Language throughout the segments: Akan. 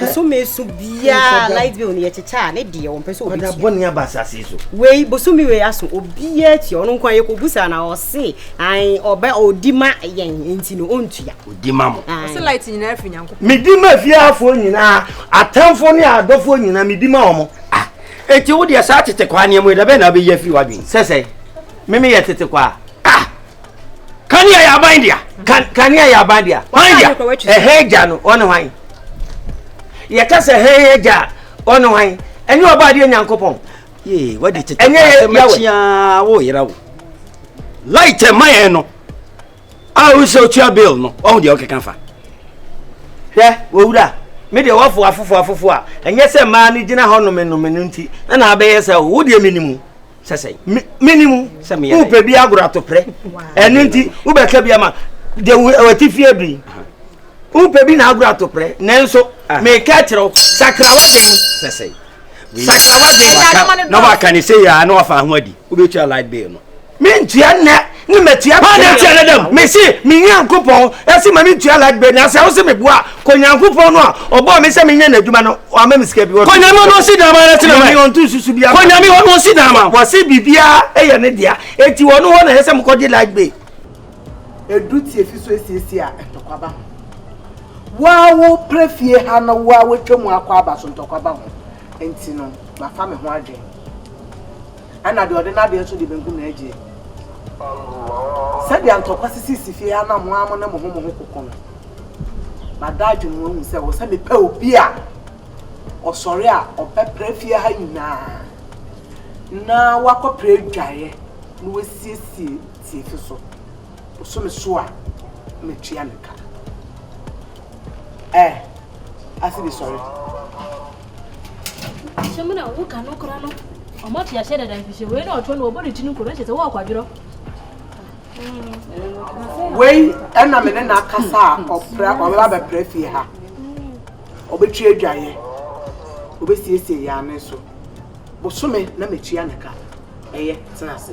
bosome so biara light bill no yɛkyekyɛ a ne deɛ wɔmpɛ sɛ ɔda bɔne aba asase so wei bosome wei aso obiara tua ɔno nkwa yɛkɔbu saa na ɔse an ɔbɛ ɔdi ma yɛn nti no ɔntua ɔdi ma mo ɔse light nyinaa firi nyankopɔn medi ma fiafoɔ nyinaa atamfoɔ ne adɔfoɔ nyinaa medi ma ɔmo ah enti wo deɛ saa tete kwaa nneɛma yi da bɛn na wobɛyi afiri w'adwene sɛ sɛ meme yɛ tete kwaa ah kanea yɛ aban dea kanea yɛ aban dea hwan dea ɛhɛn agya no ɔne hwan yɛka sɛ hɛn agya a ɔne hwan ɛnyɛ ɔba adeɛ nyankopɔn ɛnyɛ yɛwɛ wo yera wo light ɛma yɛn no a wo sɛ otua bill no ɔho deɛ ɔkeka fa hwɛ wɔwura me deɛ wɔfo afofo afofo a ɛnyɛ sɛ mmaa no gyina hɔ nomenome no nti na na abɛyɛ sɛ wo deɛ menimu sɛ sɛn mene mu sɛ meyɛ wopɛ bi agorɔ atoprɛ ɛno nti wobɛka bi ama de wɔte fie biri wopɛ bi na agorɔ atoprɛ nanso ah. meka kyerɛ wo sakrawa den sɛ sɛn sakrawa den na waka ne sɛ yɛa na wafa ho adi wobɛtua light bill no mentua nnɛ ne matua pa na tia ne dɛm mese me nyankopɔn ɛse ma mentua light bill na sɛ wo se meboa kɔ nyankopɔn no a ɔbɔɔ me sɛ menyɛ n'adwuma no ɔama me sika bi wɔ kɔnyame ɔno ɔsi dama na tena mɛ ɔnto susu bia kɔnyame ɔno ɔsi dama wɔse biribiara ɛyɛ ne dea eti wɔn hɔ na ɛyɛ sɛ mokɔgye light bill edu tie fi so esiesie a ntɔkwa ba ho woa wo pere fie ha no woa wotwa mu akɔ aba so ntɔkwa ba ho nti no mafa me ho adwene ɛna deɛ ɔde n'adeɛ nso de benkum na agyeɛ. Sɛdeɛ ntɔkwa sisi si fie ha na mo ara mo ne mo ho mo ho koko no, mada adwene mu ahu sɛ wɔ sɛ mepɛ obi a ɔsɔre a ɔbɛpra fie ha nyinaa na wakɔpra adwaeɛ na wasiesie tiefi so. Ɔso me so a, mɛtua ne ka. Ɛ, ase bi sɔre. Ahyɛm na wo ka no kora no. Ɔmo ate ahyɛ dada mfihyɛ wei na ɔtɔ no ɔbɔ ne ti no koro ɛkyɛ sɛ wɔɔkɔ adwerɔ. Wei ɛna me ne na akasa a ɔpra ɔbɛba bɛpra fie ha. Ɔbɛtwi adwaeɛ. Ɔbɛsiesie yɛ ane so. Bosome na mɛtua ne ka. Ɛyɛ tena ase.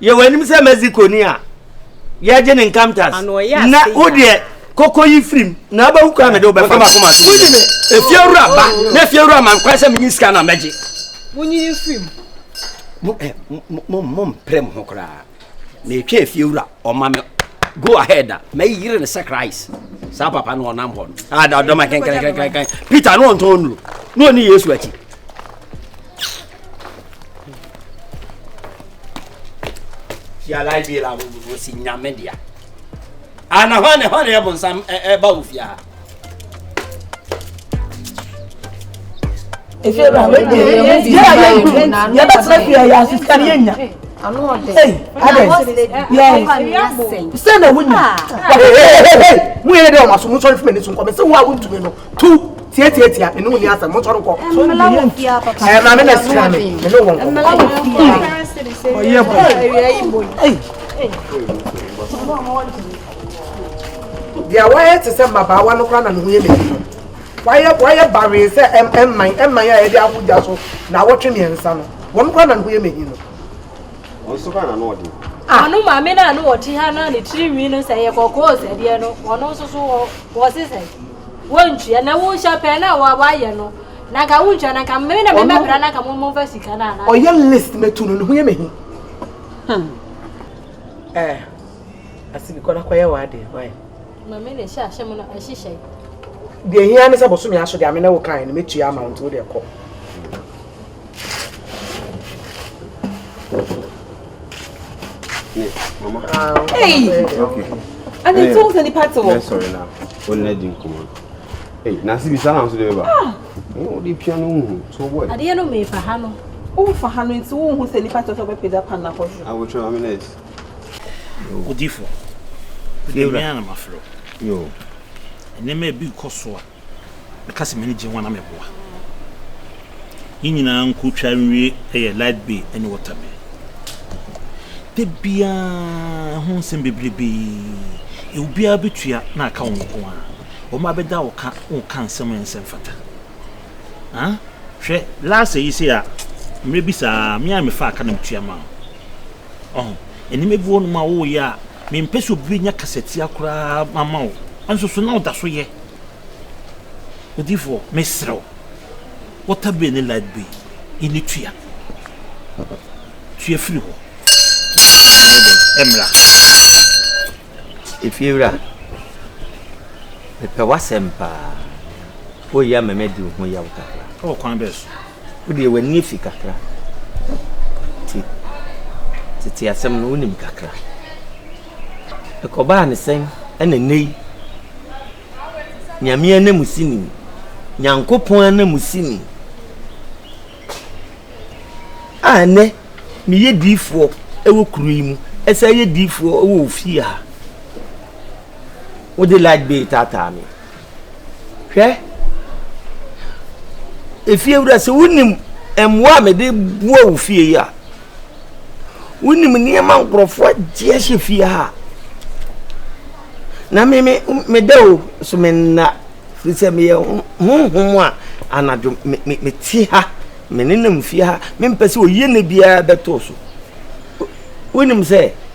Yɛ w'anim sɛ Mexiconi a yɛagye ne nkamtas, na wo deɛ kɔkɔ yi firim na abɛhu kwan mede wobɛfa wonyi me efiewura ba na efiewura ma nkwan sɛ menyi sika na mɛgye wonyi yi firim mompere mo ho koraa na ɛtwa efiewura ɔma me go ahead a mɛyere no sɛ christ saa papa no ɔnam hɔ no adadɔma kɛnkɛnkɛnkɛn peter ne ɔntɔn nnuro na ɔne yesu akyi fiala bi la o si nyame dia ana hɔ ne hɔ ne ɛbo nsam ɛba wo fia yɛbɛtena fie yɛ asesika ne yɛnya sɛ na wonya woyɛ dɛ ɔmaso mosɔre fima ni so nkɔmɛ sɛ wo a wontumi no tu tie tie tie mene wo ni asɛm mo sɔre kɔ ɛɛ maame na sira me mene wɔn kɔ ɔyɛ bɔ deɛ wayɛ te sɛ mmabaawa no koraa na ne ho yɛ ne fi no wayɛ wayɛ baree sɛ ɛm ɛmman ɛmman a yɛde aho gya so na awɔtwe mmiɛnsa no wɔn koraa na ne ho yɛ ne fi no. Wɔn so hɔ na na ɔte. Wɔn maame no a na ɔte ha no a ne tiri nwi no sɛ yɛ kɔkɔɔ sɛdeɛ no, wɔn nso so wɔ wɔse sɛ wɔntua na wohyɛ pɛn na wɔayɛ no na nka wontua na nka mmere na mebɛbra na nka momfa sika no ana. Ɔyɛ list mɛtu no ne ho yɛ mahi. Hmm. Eh, asi bi kɔ na kɔyɛ w'adeɛ wae. Mame na ɛhyɛ ahyɛ mu no ɛhyehyɛ. Deɛ hia ne sɛ bosome aso deɛ ame na wo kan no mɛtua ama wo nti wo deɛ kɔ. Adeɛ no mefa ha no wofa ha no nti wohu sɛ nipa tɔ sɛ wobɛpagya pa nakɔ so odifo ɛnɛ mmerɛ a na mafrɛ nneɛma bi kɔ so a Mɛka sɛ m'ani gye ho anaa meboa? Yɛn nyinaa nko twa nwie yɛ light bay ne water bay. Da biara ho nsɛm bebrebe yi, obiara bɛtua na aka wo nko ara. Wɔn a bɛda wo ka woka nsɛm a ɛnsɛ mfata. Ha? Hwɛ, last yi se a, mmerɛ bi saa, me a mefa aka na metua ma wo. Ɔho, nneɛma bi wɔ nom a woyɛ a, mempɛ sɛ obi bɛnya kasatia koraa ama wo. Nso so na woda so yɛ. Odiyifoɔ, mesrɛ wo, water bay ne light bay yi no tua. Tua firi hɔ. Ɛmmra. Efiewura, mepɛ w'asɛm paa. Woyɛ ama madi wo ho yaw kakra. Ɛwɔ kwan bɛn so? Wo deɛ w'ani afi kakra nti tete asɛm no wonim kakra. Ɛkɔbaa ne sɛn ɛna nnɛ yi Nyame ananmusini, Nyankopɔn ananmusini a ɛnɛ meyɛ diifoɔ ɛwɔ kuro yi mu, ɛsɛ yɛ diifoɔ ɛwɔ ofie ha. Wode light bay taataa me. hwɛ efiewura sɛ wonim mmoa a mede boa wo fie yi a wonim nneɛma nkurɔfoɔ agye ahyɛ fie ha na me me meda o so me nna firi sɛ meyɛ honhom a anadwo me me me ti ha me nenam fie ha mempɛ sɛ oyie ne biara bɛtoo so wonim sɛ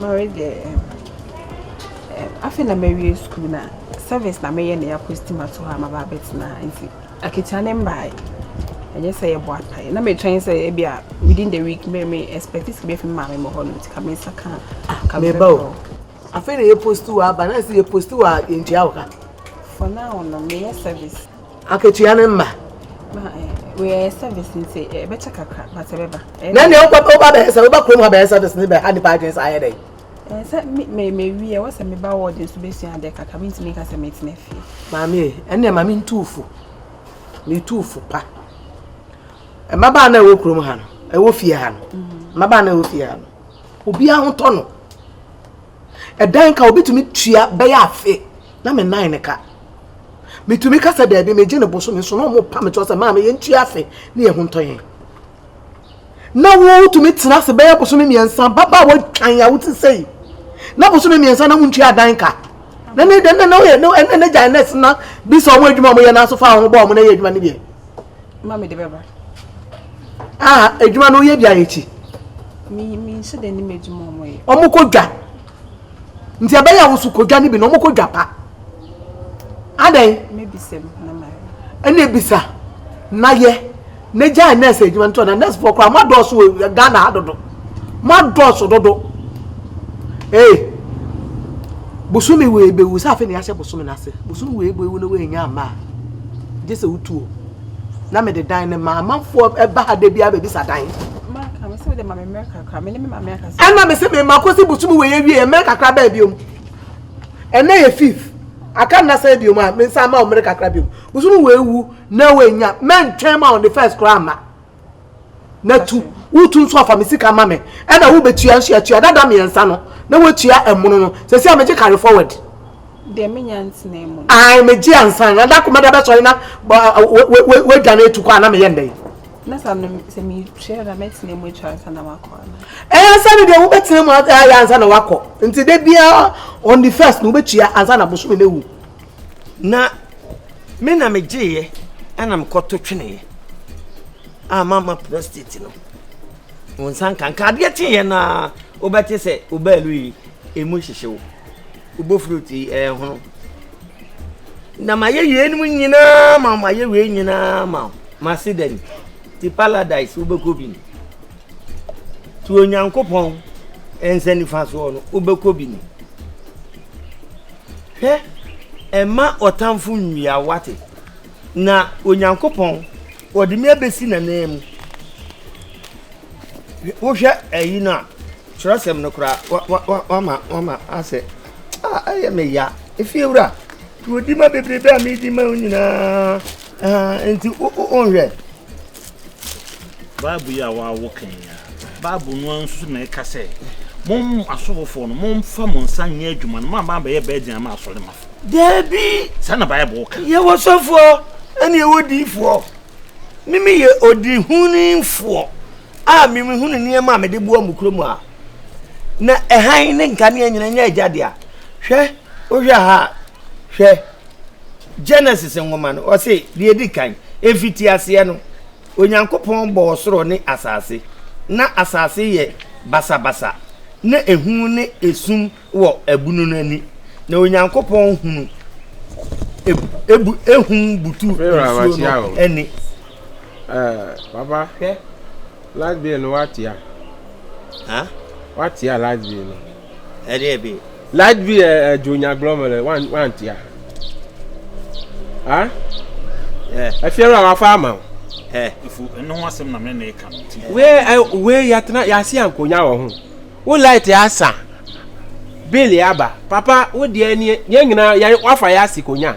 Mary deɛ ɛɛm ɛɛm afei na mawie sukuu na service na meyɛ na yɛaposti me ato hɔ a maba abɛtena ha nti akatua no mbaeɛ. Ɛnyɛ sɛ yɛbɔ apaeɛ. Na metwɛn sɛ ebi a within the week me me expect sɛ ebi afi me maame me hɔ no nti ka me nsa ka ka me Meba o. bɛbrɛ. Afei na yɛposti wo aba na sɛ yɛposti wo a yɛntua wo ka. For now no meyɛ service. Akatua no mma. Wɔyɛ service nti ɛbɛkyɛ kakra but ɛbɛba. Na nea wokɔ woba bɛyɛ sɛ woba kurom ha bɛyɛ service ne bɛha nipa adwene saa ayɛ dɛn? Sɛ me me wi ɛwɔ sɛ me ba ward nso bɛsua adeɛ kakra me ntumi nka sɛ me tena fie. Maame e ɛnna ma me ntu fo me tu fo pa. Mmabaa na ɛwɔ kurom ha no ɛwɔ fie ha no mmabaa na ɛwɔ fie ha no obi ahotɔ no. ɛdan ka obetumi tua bɛyɛ afe na me nan ne ka metumi ka sɛ daabi megye ne bosome nso na ɔmo pa me toɔ sɛ maame yɛntua afe ne yɛn ho ntɔ yɛn na wotumi tena ase bɛyɛ bosome mmiɛnsa baba watwan a wote sɛ yi na bosome mmiɛnsa na wontua adan ka na ne dɛm na woyɛ ne gyae nɛs na bi sɛ ɔmo adwuma ɔmo yɛ n'aso fa ɔmo bɔ ɔmo na yɛ adwuma no bi ma mede bɛba. Ah, adwuma no woyɛ bi ayɛ ti. Me me nhyɛ da nim adwuma ɔmo yɛ. Ɔmo kɔ dwa. Nti ɛbɛyɛ a wosu kɔ dwa no bi na ɔmo kɔ dwa pa. Adɛn? Mebisam na ma. Ɛna ebisa na yɛ. Ne gyae nurse adwuma no tɔ na nurse foɔ koraa ɔmo adɔɔso wɔ Ghana ha dodo. Moadɔɔso dodo. Ei! Bosome wei bɛwu sɛ afei na yɛahyɛ bosome no ase. Bosome wei bɛwu na woannya amma a, gye sɛ wotu o. Na mede dan no ma amanfoɔ ɛba ha da biara bɛbisa dan. Maka me sɛ wode ma me mmerɛ kakra, me ne me maame akasa. Ɛna me sɛ me ma kɔsi bosome wei awie mmerɛ kakra bɛɛ biom. Ɛnɛ yɛ fifth, aka nna sɛ biom a, me nsa ama wo mmerɛ kakra biom. Bosome wei wu na woannya, mɛntwɛn ma on the first koraa amma. na tu wotu nso afa me sika ma me ɛna wobɛtua nso atua dada mmiɛnsa no na woatua ɛmono no sɛsi a megye carry forward deɛ menya ntena mu ae megye ansa na da komada bɛsɔre na wadwane atu kɔ a na meyɛ ndɛn na sɛ metua na mɛtena mu atwa ansa na makɔ ɛyɛ ansa no deɛ wobɛtena mu ayɛ ansa na wakɔ nti da biara on the first na wobɛtua ansa na bosome no awu na me na megyeeɛ ɛna mekɔto tweneeɛ a mama prostate no wo nsa nka nka adeɛ kyeeɛ no a wobɛte sɛ wobaalu yi ɛmu hyehye wo wobɔ fruit yi ɛhono na mayɛ yeinom nyinaa ma mayɛ wei nyinaa ma mase dani ti paradise wobɛkɔ bi ni nti onyankopɔn nsa nifa soɔ no wobɛkɔ bi ni Hwɛ, mma ɔtamfo nnwia wo, woate? Na Onyankopɔn, ɔde me abɛsi n'ananmu. Wohwɛ ayi no a, twerɛsɛm no koraa, wama wama asɛ, a ɛyɛ me ya. Efiewura, turodima bebrebe a medi ma wo nyinaa, nti wonhwɛ. Bible yi a wɔawo ka yi ara. Bible no ara nso na ɛka sɛ, mo asɔfofoɔ no, momfa mo nsa nyɛ adwuma no, moama abɛyɛ bɛɛden ama asɔremafo. Daabi. Saa na Bible ka. Yɛwɔ sɔfoɔ ɛne yɛwɔ diifoɔ. Mimi yɛ odihunifoɔ a memehunu nneɛma a mede boa mo kurom a na ɛhan ne nkanea nyina nyɛ agya dea. Hwɛ, wohwɛ ha a, hwɛ. Genesis nwoma no, ɔse deɛ ɛdi kan, ɛfiti aseɛ no, Onyankopɔn bɔɔ soro ne asase. Na asase yɛ basabasa, na ehu ne esum wɔ ɛbunu no ani. Na Onyankopɔn hunu ebu ehum butu nsuo no ani. Ɛɛ, papa, hwɛ, light bill no watea. Ha? Watea light bill no. Ɛdeɛ bi. Light bi ɛ ɛ jo nya glɔ mɛlɛ wan wan tia. Ah? Ɛ. Ɛfiɛrɛ a wafa ama o. Ɛ. Efu ɛno ho asɛm na mɛ na ɛka no ti. Wee ɛ wee yatena yasi ankonya wɔ ho. Wo light asa. Bill yaba. Papa wo deɛ nie yɛn nyinaa yɛn wafa yasi konya.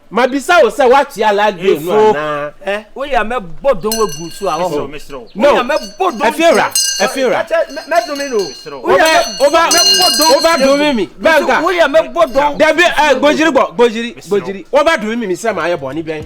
Mabisa wo sɛ woakyea light grey no anaa? Efo, eh? Wo ya mɛ bɔ don wo gu so a wɔ ho. No, Efiewura, Efiewura. Mɛ don mi no. Wo bɛ, wo bɛ, wo bɛ don mi mi. Bɛnka. Wo ya mɛ bɔ don. Dabi, eh, gbojiri gbɔ, gbojiri, gbojiri. Wo bɛ don mi mi sɛ maa yɛ bɔ ni bɛn.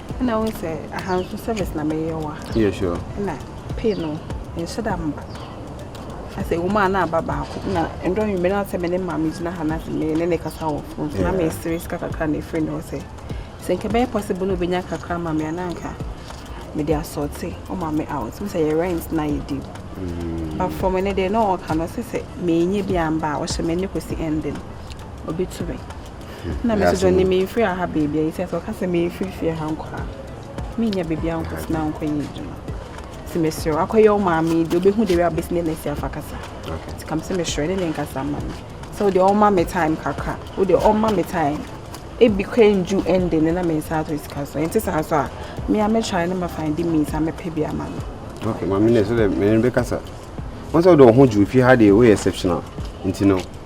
Ɛna wo sɛ aha nso service na meyɛ wa. Yeah sure. Ɛna pay no nhyɛ da mba. Asɛ wɔn a na aba baako na ndɔ nwumɛ na sɛ me ne maame gyina ha na sɛ me ne ne kasa wɔ fon so na me sere sika kakra na efiri ne hɔ sɛ sɛ nka bɛyɛ possible na obenya kakra ma me anaa nka me de asɔte o maame out sɛ yɛ rent na yɛ deal. Mm. But for me ne de na ɔka no sɛ sɛ me nye bi amba a ɔhyɛ me ne kɔsi ending obetu me. na me nso ne memfiri aha baabi a ɛsɛ sɛ ɔka sɛ memfiri fie ha nkɔ a menya baabi a nkɔtena nkɔyɛ adwuma nti mesrɛ akɔyɛ wo maame deɛ wobɛhu de wɛ a wobɛsi ne nɛsi afa kasa nti kam sɛ mesrɛ ne ne nkasa ma me sɛ wode ɔma me time kakra wode ɔma me time ebi kɔ nju ɛnde ne na me nsa ato sika so ɛnte saa so a mea mɛtwae ne mafa de means a mɛpɛ bi ama no okay maame ne sɛ dɛ mene bɛkasa wɔn sɛ wode wo ho gye ofie ha deɛ woyɛ exceptional nti no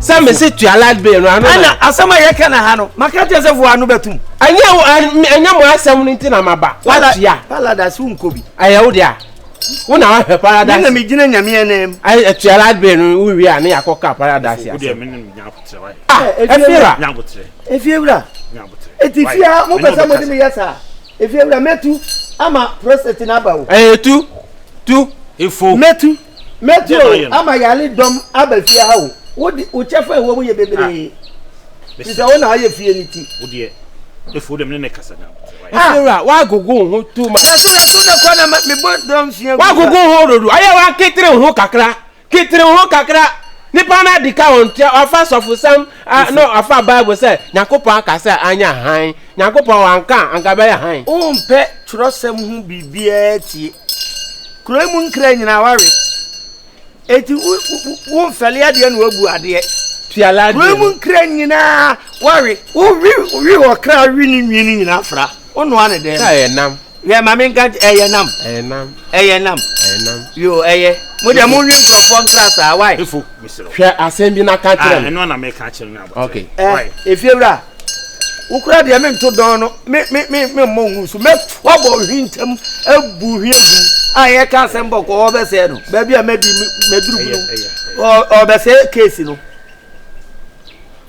sɛ mese tua light bill no ano ɛna asɛm a yɛka na ha no maka kyɛ sɛ voa no bɛtum ɛnyɛ ɛnyɛ mo asɛm no nti na maba watua paradise wonkɔ bi ɛyɛ wo dea wo na wahwɛ paradise ɛna megyina nyameɛ nam atua light bill no wowie a ne yɛakɔka paradise asɛ ɛfiewura ɛfiewura ɛti fia mopɛ sɛ mode meyɛ saa ɛfiewura mɛtu ama prostate no aba o ɛyɛ tu tu ɛfo mɛtu Mɛte o, ama yare dɔm aba fie ha o. Wo de, wo kyɛfa a ɛwɔ mu yɛ bebree. Ah. Ti sɛ wo na ayɛ fie ne ti. Wo deɛ, efu wo deɛ mene ne kasa na. Efura, wagogo ho too much. Yɛso yɛso ne kɔ na me bɔ dɔm sua. Wagogo ho dodo, ayɛ wa ketere ho kakra, ketere ho kakra. Nipa na adi ka wɔn tia, wafa sɔfo sam, Ah no afa bible sɛ nyankopɔn aka sɛ anyɛ hann nyankopɔn wanka a anka bɛyɛ hann. Wompɛ twerɛsɛm ho biribiara tie. Kuro yi mu nkra nyinaa wawe. Enti wo wo wo mfɛle adeɛ na wabu adeɛ. Kuro yi mu nkra nyinaa wawe. Wo we we ɔkra we ne nwii no nyinaa fra. Wo noa ne dɛm. Sɛ ɛyɛ nam. Hwɛ ma me nka nkyɛ ɛyɛ nam. Ɛyɛ nam. Ɛyɛ nam. Ɛyɛ nam. Yo ɛyɛ. Mo deɛ mo nwi nkurɔfoɔ nkra saa why. Efo mesrɛ wo. Hwɛ asɛm bi na ka kyerɛ me. Ah ɛno na meka kyerɛ no abɔkyerɛ. Okay. Ɛɛ efiewura wo kura deɛ me nto dɔn no me me me me mmɔ ngu so mɛ wabɔ ohwi ntam ebu ohwi egu a yɛ ka asɛm bɔ kɔ ɔbɛsɛɛ no baabi a mɛ di mɛ duru bi no ɔbɛsɛɛ keesi no.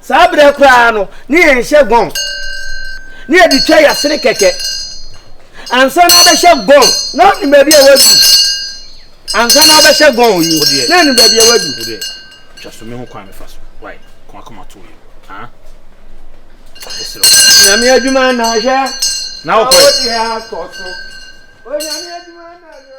saa berɛ koraa no ne yɛn hyɛ gɔn ne yɛde twa yɛasene kɛkɛ ansa na abɛhyɛ gɔn na ɔnim baabi a wadu ansa na abɛhyɛ gɔn yi na ɔnim baabi a wadu twa so me ho kwan mefa so wae kɔn akoma to yi ah nyame adwuma na ahwɛ na wokɔ yɛ akɔ so onyame adwuma na ahwɛ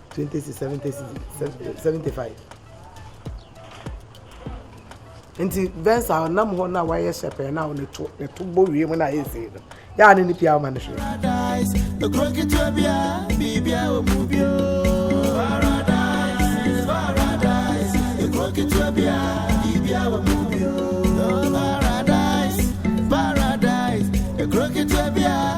20 cedis 70 cedis 75 nti vɛns a ɔnam hɔ na wayɛ sɛpɛn na ɔne to ne to bɔ wie mu na ayɛ sei no yɛa ne ne pia ɔma no hwɛ Paradise, paradise, a crooked way,